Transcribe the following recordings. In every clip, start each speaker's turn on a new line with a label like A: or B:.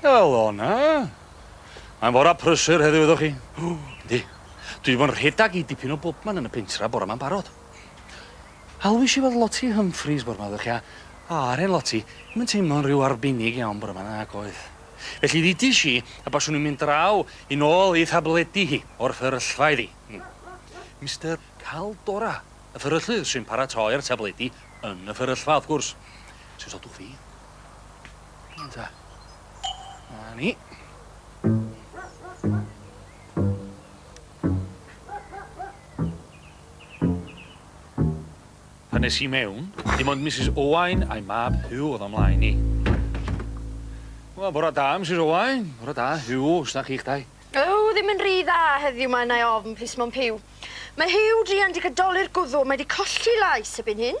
A: Helo 'na. Mae'n fora prysur heddiw iddo chi. O, yndi. Dwi 'di bod yn rhedag i dipyn o bobman yn y pentra bora 'ma'n barod. Hawlwish i weld Lottie Humphries bore 'ma ddych chi a o a'r hen Lottie ddim yn teimlo'n rhyw arbennig iawn bore 'ma nag oedd. Felly ddudish i y baswn i'n mynd draw i nôl ei thabledi hi o'r fferyllfa iddi. Hmm. Mister Caldora, y fferyllydd sy'n paratoi'r tabledi yn y fferyllfa wrth gwrs. Os odwch fi, Ynta. Na ni. Pan nes i mewn, dim ond Mrs Owain a'i mab Huw oedd o'n mlaen i. Wel, bora da, Mrs Owain. Bora da, Huw, os na chi'ch dau. Yw, ddim yn rhy dda heddiw mae yna ofn, plis Mom Huw. Mae Huw druan di gadoli'r gwddw, mae di colli lais ebyn hyn.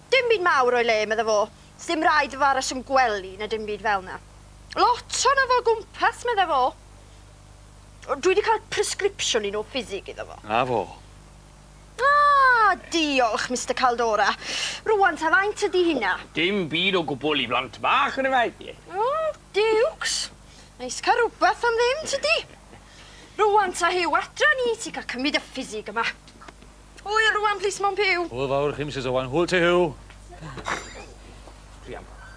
A: Dim byd mawr o'i le, medda fo. Sdim raid iddo fo aros yn gwely na dim byd fel 'na. Lot ohono fo o gwmpas, medda fo. Dwi 'di cael presgripsiwn un o ffisig iddo fo. Na fo. Ah, diolch, Mister Caldora. Rŵan ta faint ydi hynna? Dim byd o gwbwl i blant bach, yn efallai. Oh, Dukes. Neis cael rhywbeth am ddim, tydi? Rŵan ta Huw, adra ni ti cael cymryd y ffisig yma. Pwy yw'r Owain plîs Mom Puw? Hwyl fawr chi Misus Owain. Hwyl ti Huw. Druan bach.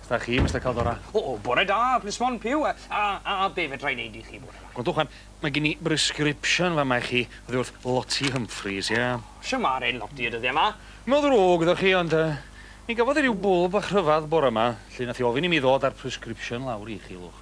A: Sda chi Mister Caldora? O o bore da Plîs Mom Puw a a a a be' fedrai neud i chi bore ma? Gwrandwch wan mae gin i brescripsiwn fa' ma' i chi oddi wrth Lottie Humphries ie? Shw ma'r 'en Lottie y dyddie ma? No ddrwg iddo chi ond yy mi gafodd i ryw bwl bach rhyfadd bore ma 'lly nath i ofyn i mi ddod a'r prescripsiwn lawr i chi lwch.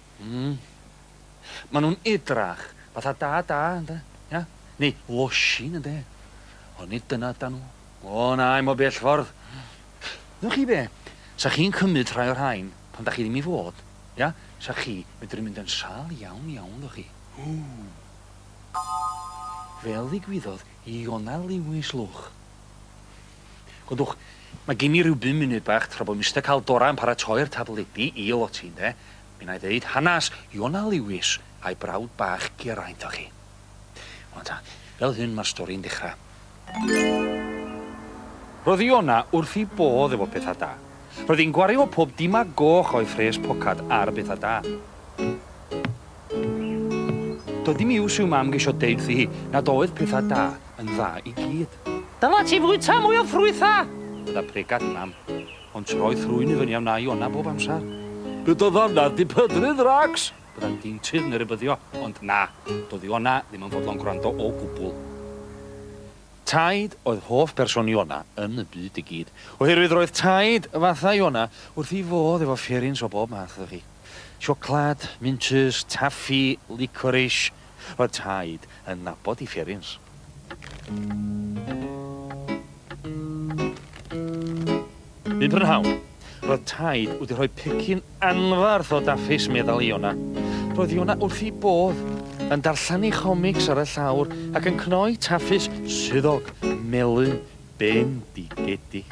A: Mm. Ma nhw'n edrach fatha da da ynde? Ia? Neu losin ynde? Ond nid dyna ydan nhw. O na, i'm o bell ffordd. Ydwch chi be? Sa chi'n cymryd rhai o'r rhain pan da chi ddim i fod, ia? Sa chi medru mynd yn sâl iawn iawn ydwch chi. Ww. Fel ddigwyddodd i Iona Lewis lwch. Gwdwch, mae gin i ryw bum munud bach tra bod Mister Cal Dora yn paratoi'r tafledu i o ti, ynde? Mi wna i ddeud hanas Iona Lewis a'i brawd bach Geraint o chi. Wel ta, fel hyn mae'r stori'n dechrau. Roedd Iona wrth ei bodd efo pethau da. Roedd hi'n gwario pob dim a goch o'i phres pocad ar bethau da. Doedd dim iws i'w mam geisio deud wrthi hi nad oedd pethau da yn dda i gyd. Dyla ti fwyta mwy o ffrwytha! Gyda pregad mam. Ond troedd thrwyn i fyny a wna i ona bob amser. Gyda ddanedd dipydrydd Rax! Bydda'n ddeintydd neu rybyddio, ond na, doedd Iona ddim yn fodlon gwrando o gwbl. Taid oedd hoff berson Iona yn y byd i gyd, oherwydd roedd taid fatha Iona wrth ei fodd efo fferins o bob math iddo hi. Siocled, mintsys, taffi, licorish, Roedd Taid yn nabod i Fferins. Un prynhawn, roedd Taid wedi rhoi pecyn anfarth o daffis, meddal Iona. Roedd Iona wrth ei bodd, yn darllen ei chomics ar y llawr ac yn cnoi taffis swyddog melyn bendigedig.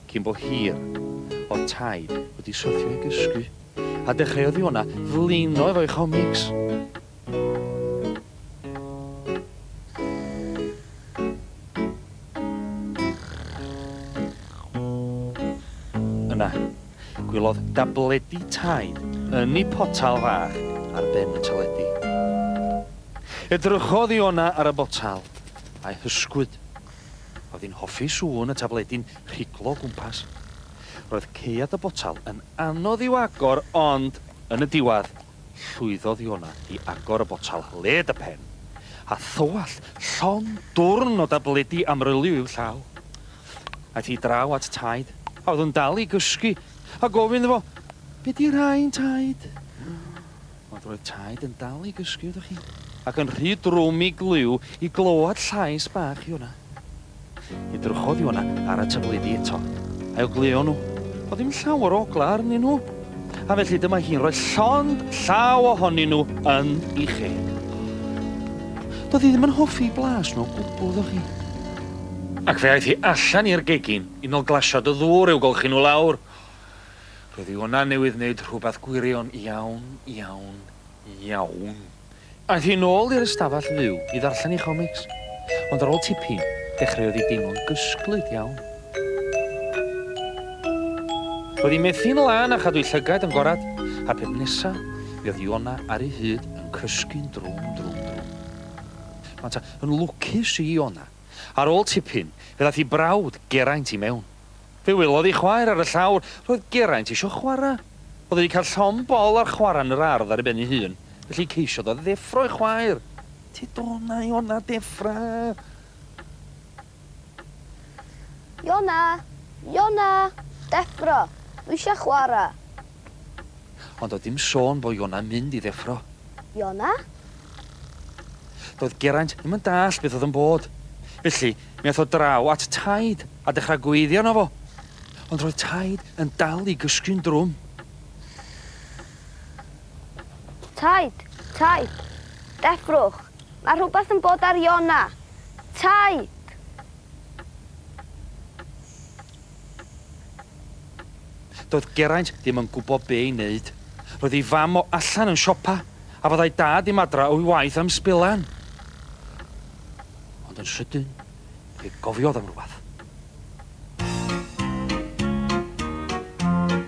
A: Cyn bo hir, o'dd Taid wedi syrthio i gysgu, a dechreuodd Iona flino efo'i chomics. Yna, gwelodd dabledi Taid yn ei potal fach ar ben y teledu. Edrychodd Iona ar y botal, a'i hysgwyd. Oedd hi'n hoffi sŵn y tabledi'n rhiglo o gwmpas. Roedd caead y botel yn anodd i'w agor ond, yn y diwedd, llwyddodd Iona i agor y botel led y pen, a thywallt llond dwrn o dabledi amryliw i'w llaw. Aeth hi draw at Taid, a oedd yn dal i gysgu, a gofyn iddo fo, Be 'di rhain, Taid? Ond roedd Taid yn dal i gysgu, ydych chi? Ac yn rhy drwm i Glyw i glywed llais bach Iona. Edrychodd Iona ar y tabledi eto, a'i ogleuo nhw. Oedd dim llawer o oglau arnyn nhw, a felly dyma hi'n rhoi llond llaw ohonyn nhw yn i chi. Doedd hi ddim yn hoffi blas nhw o gwbl, ydych chi? Ac fe aeth hi allan i'r gegin, unol glasiad o ddŵr i'w golchi nhw lawr. Roedd Iona newydd wneud rhywbeth gwirion iawn, iawn, iawn. Aeth hi nôl i'r ystafell fyw i ddarllen ei chomics, ond ar ôl tipyn, dechreuodd hi deimlo'n gysglyd iawn. Roedd hi methu'n lân a chadw'i llygaid yn gorad, a'r peth nesa' mi oedd Iona ar ei hyd yn cysgu'n drwm, drwm, drwm. Mae ta yn lwcus i Iona. Ar ôl tipyn, fe ddaeth ei brawd, Geraint, i mewn. Fe welodd ei chwaer ar y llawr. Roedd Geraint eisiau chwarae. Oedd wedi cael llond bol ar chwarae yn yr ardd ar ei ben ei hun, felly ceisiodd o ddeffro ei chwaer. Ti dona, Iona, deffra! Iona! Iona! Deffro! Dwi eisiau chwarae! Ond doedd dim sôn bo Iona'n mynd i ddeffro. Iona? Doedd Geraint ddim yn dallt beth oedd yn bod. Felly, mi ath o draw at Taid a dechra gweiddi arno fo. Ond roedd Taid yn dal i gysgu'n drwm. Taid! Taid! Deffrwch! Mae rhywbeth yn bod ar Iona! Taid! Doedd Geraint ddim yn gwybod be' i neud. Roedd ei fam o allan yn siopa, a fyddai Dad ddim adra o'i waith am sbilan. Ond yn sydyn, fe gofiodd am rywbeth.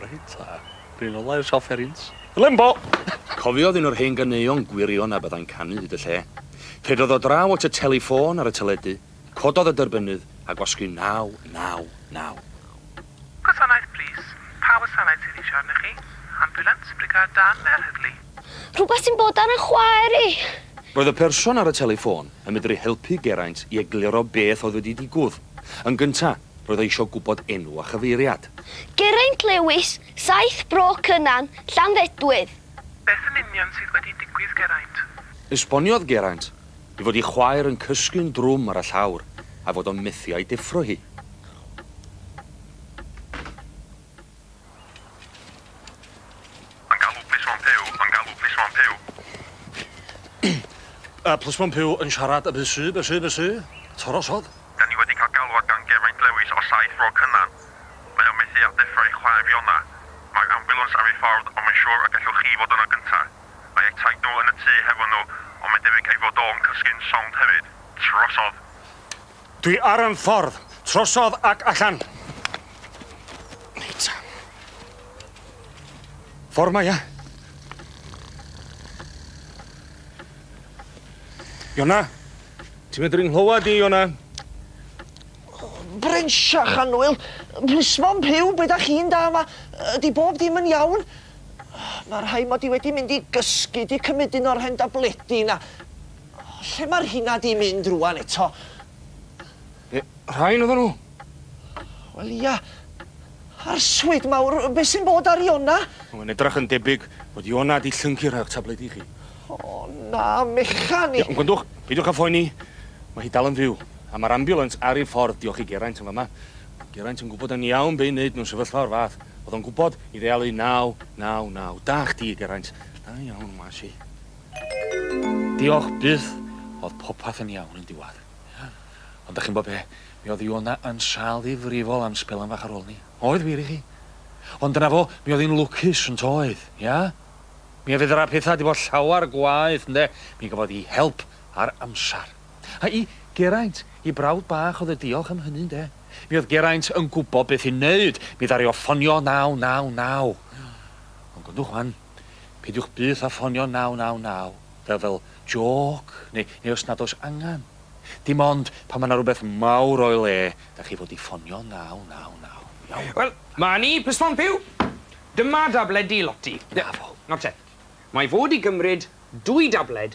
A: Reit ta. Run ola i'r siop ferins. Lembo! Cofiodd un o'r hen ganeuon gwirion a byddai'n canu hyd y lle. Ceidiodd ddod draw at y teli ffôn ar y teledu, cododd y dyrbynnydd a gwasgu 999. Gwasanaeth plîs. Pa wasanaeth sydd eisiau arnoch chi? Ambiwlans, brigâd dân neu'r heddlu? Rhywbeth sy'n bod ar 'y chwaer i! Roedd y person ar y teli ffôn yn medru helpu Geraint i egluro beth oedd wedi digwdd. Yn gyntaf, Roedd o isio gwybod enw a chyfeiriad. Geraint Lewis, Saith Bro Cynan, Llanfedwydd. Beth yn union sydd wedi digwydd, Geraint? Esboniodd Geraint ei fod ei chwaer yn cysgu'n drwm ar y llawr a'i fod o'n methu a'i deffro hi. Yn galw plis one Puw, yn galw plis one Puw. Yy plis one Puw yn siarad a bys y bys y bys y torosodd. Dan ni wedi cael galwad gan Geraint Lewis o Saith Fro Cynan. Mae o methu â deffro'i chwaer Fiona. Mae'r ambiwlans ar ei ffordd ond mae'n siŵr y gellwch chi fod yno gynta. Mae eu taid nhw yn y tŷ hefo nhw ond mae'n debyg ei fod o'n cysgu'n sownd hefyd. Trosodd! Dwi ar 'yn ffordd. Trosodd ac allan. Reit. Ffordd mae ia? Iona? Ti'n medru nghlywed i, Iona? Bryn Siach a Nwyl, plismon pyw, be da chi'n da yma? Ydy bob dim yn iawn? Mae rhai mod i wedi mynd i gysgu, di cymryd un o'r hen dabledi na. Lle ma'r rhina di mynd rŵan eto? Yy rhain oddan nhw? Wel ia. Arswyd mawr, be' sy'n bod ar Iona? Mae'n edrach yn debyg bod Iona di llyncu rhai o'ch tabledi i chi. O na, mechan i. Iawn, gwrandwch, peidiwch â phoeni. Mae hi dal yn fyw, a ma'r ambiwlans ar ei ffordd diolch i Geraint yn fama. O'dd Geraint yn gwbod yn iawn be' i neud mewn sefyllfa o'r fath. O'dd o'n gwbod i ddealu naw, naw, naw. Da chdi, Geraint. Da iawn, wnes i. Diolch byth, o'dd popeth yn iawn yn diwadd. Ond 'dach chi'n gwbo be', mi o'dd Iona yn sâl ddifrifol am sbelan fach ar ôl 'ny. Oedd wir i chi. Ond dyna fo, mi o'dd 'i'n lwcus, yn toedd? Ia? Mi a fedra petha 'di bod llawar gwaeth, ynde? Mi gafodd 'i help ar amsar. A i Geraint, 'i brawd bach o'dd y diolch am hynny, ynde? Mi o'dd Geraint yn gwbo beth i neud, mi ddaru o ffonio naw naw naw. Ond gwrandwch 'wan. Peidiwch byth â ffonio 999 fel fel jôc neu neu os nad oes angen. Dim ond pan mae 'na rywbeth mawr o'i le, da chi fod i ffonio 999. Iawn? Wel, ma' ni, Miss Pompeo! Dyma dabledi Lotty. Na fo. Nawr te, mae fod i gymryd dwy dabled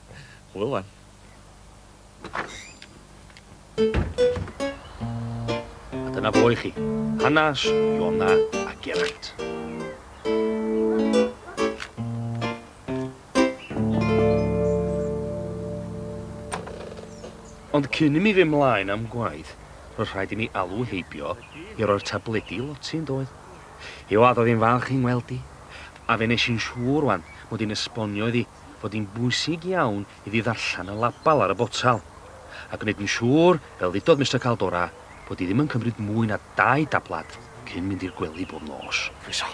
A: Hwyl wan. A dyna fo i chi, hanes Iona a Geraint. Ond cyn i mi fy mlaen am gwaith, roedd rhaid i mi alw heibio i roi'r tabledi i Loti yn doedd. Hi oedd oedd hi'n falch i'n ngweld i, a fe nes i'n siŵr wan mod i'n esbonio iddi fod hi'n bwysig iawn iddi ddarllen y label ar y botel, a gwneud yn siŵr, fel ddudodd Mister Caldora, bod hi ddim yn cymryd mwy na dau dablad cyn mynd i'r gwely bob nos. Croeso.